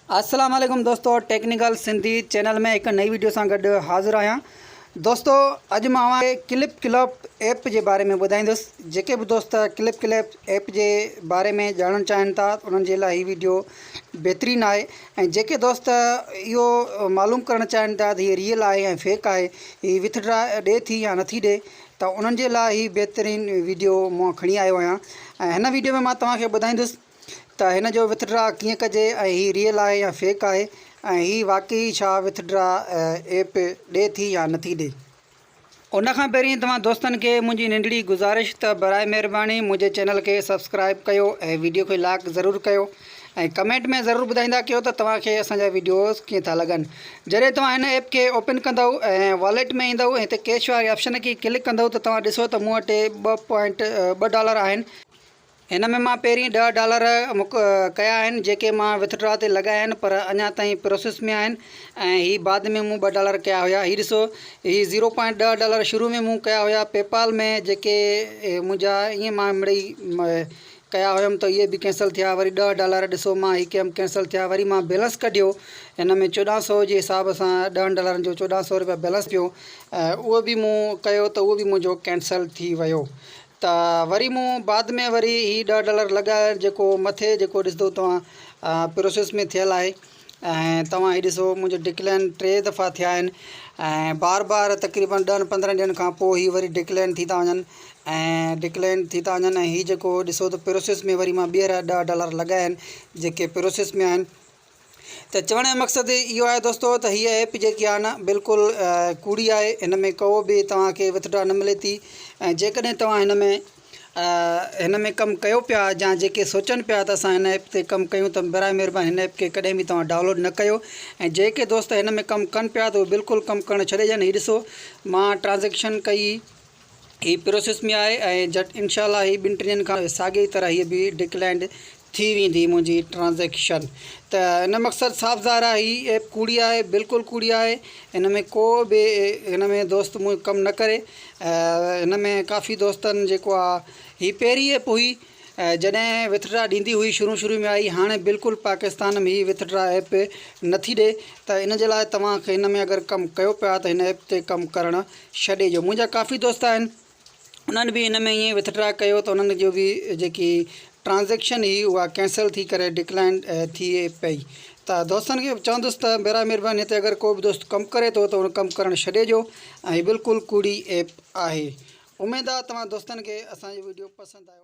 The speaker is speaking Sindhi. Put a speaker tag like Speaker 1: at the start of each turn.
Speaker 1: السلام عليڪم دوستو ٽيڪنيڪل سنڌي چينل ۾ هڪ نئي ويڊيو سان گڏ حاضر آهيان دوستو اڄ مان اوهان کي ڪلپ ڪلپ ايپ جي باري ۾ ٻڌائيندس جيڪي به دوست ڪلپ ڪلپ ايپ جي باري ۾ ڄاڻڻ چاهين ٿا انهن جي لاء هي ويڊيو بهترين آهي ۽ جيڪي دوست اهو معلوم ڪرڻ چاهين ٿا ته هي ريل آهي ۽ فيڪ آهي هي وٿ ڊرا ڏي ٿي يا نٿي ڏي ته انهن جي لاء هي بهترين ويڊيو مان کڻي آيو آهيان ۽ هن ويڊيو ۾ مان توهان کي ٻڌائيندس ته هن جو وٿ ڊرا ڪيئن ڪجي ۽ هي ريئل آهي يا فيڪ آهي ۽ هي واقعي ئي ڇا وٿ ڊرا ايپ ڏي ٿي يا نٿي ڏي. ان کان پهرين توهان دوستن کي منهنجي ننڍڙي گذارش ته براء مهرباني منهنجي چينل کي سبسڪرائب ڪيو ۽ ويڊيو کي لائق ضرور ڪيو ۽ ڪمينٽ ۾ ضرور ٻڌائيندا ڪيو ته توهان کي اسان جا ويڊيوز ڪيئن ٿا لڳن جڏهن توهان هن ايپ کي اوپن ڪندؤ ۽ واليٽ ۾ ايندؤ ۽ هتي ڪيش واري آپشن کي ڪلڪ ڪندؤ ته توهان ڏسو ته مون وٽ ٻه پوائنٽ ٻه ڊالر آهن هن ۾ مان پهرين ڏهه ڊالر مڪ ڪيا آهن جيڪي مان وٿ ڊرا تي لڳايا آهن پر اڃا تائين پروسيس ۾ آهن ۽ هي بعد ۾ مون ٻه ڊالر ڪيا هيا هي ڏسو هي زيرو پوائنٽ ڏهه ڊالر شروع ۾ مون ڪيا هيا پي پال ۾ جيڪي منهنجا ائين مان مڙئي ڪيا هيم ته اهي به ڪينسل ٿيا وري ڏهه ڊالر ڏسو مان هي ڪيم ڪينسل ٿيا وري مان بيلنس ڪڍيو هن ۾ چوڏهن سو جي حساب سان ڏهن ڊالرن جو چوڏهن سو رپيا بيلنس پيو اهو به مون ڪيو ته اهو به منهنجو ڪينسل ٿي ويو ته وري مون بعد ۾ وري هي ڏهه ڊالر لڳايا جيڪو مٿي جيڪو ڏسندو توهان پروسيس ۾ ٿيل آهي ۽ توهان هي ڏسو منهنجو ڊڪلين ٽي دفعا ٿيا آهن ۽ بار بار تقريبن ڏهن پندرهن ڏينهن کان پوء هي وري ڊڪلين ٿي ٿا وڃن ۽ ڊڪلين ٿي ٿا وڃن ۽ هي جيڪو ڏسو ته پروسيس ۾ وري مان ٻيهر ڏهه ڊالر لڳايا آهن جيڪي پروسيس ۾ آهن ته چوڻ جو مقصد اهو آهي دوستو ته هيء ايپ جيڪي آهي نه بلڪل ڪوڙي آهي هن ۾ ڪو به توهان کي وٿڊرا نه ملي ٿي ۽ جيڪڏهن توهان هن ۾ هن ۾ ڪم ڪيو پيا يا جيڪي سوچن پيا ته اسان هن ايپ تي ڪم ڪيون ته براء مهرباني هن ايپ کي ڪڏهن به توهان ڊائونلوڊ نه ڪيو ۽ جيڪي دوست هن ۾ ڪم ڪن پيا ته اهي بلڪل ڪم ڪرڻ ڇڏي ڏين هي ڏسو مان ٽرانزيڪشن ڪئي هي پروسيس ۾ آهي ۽ جهٽ انشاء الله هي ٻن ٽن ڏينهن کان ساڳي ئي طرح هي به ڊڪلائنڊ ٿي ويندي منهنجي ٽرانزيڪشن ته ان مقصد صاف ظاهر آهي هي ايپ ڪوڙي آهي بلڪل ڪوڙي آهي ان ۾ ڪو به ان ۾ دوست منهنجو ڪم نه ڪري ان ۾ ڪافي دوستن جيڪو آهي هي پهرين ايپ هئي جڏهن وٿڊرا ڏيندي هئي شروع شروع ۾ آئي هاڻي بلڪل پاڪستان ۾ هي وٿڊرا ايپ نٿي ڏي ته ان جي لاء توهان کي ان ۾ اگر ڪم ڪيو پيا ته هن ايپ تي ڪم ڪرڻ ڇهه ڏيجو منهنجا ڪافي دوست آهن انهن به ان ۾ ائين وٿ ڊرا ڪيو ته انهن جو بي جيڪي ٽرانزيڪشن هئي اها ڪينسل ٿي ڪري ڊڪلائن ٿئي پئي ته دوستن کي چوندس ته برا مهرباني هتي اگر ڪو به دوست ڪم ڪري ٿو ته ان ڪم ڪرڻ ڇڏي ڏيو ۽ بلڪل ڪوڙي ايپ آهي اميد آهي توهان دوستن کي اسان جو ويڊيو پسند آيو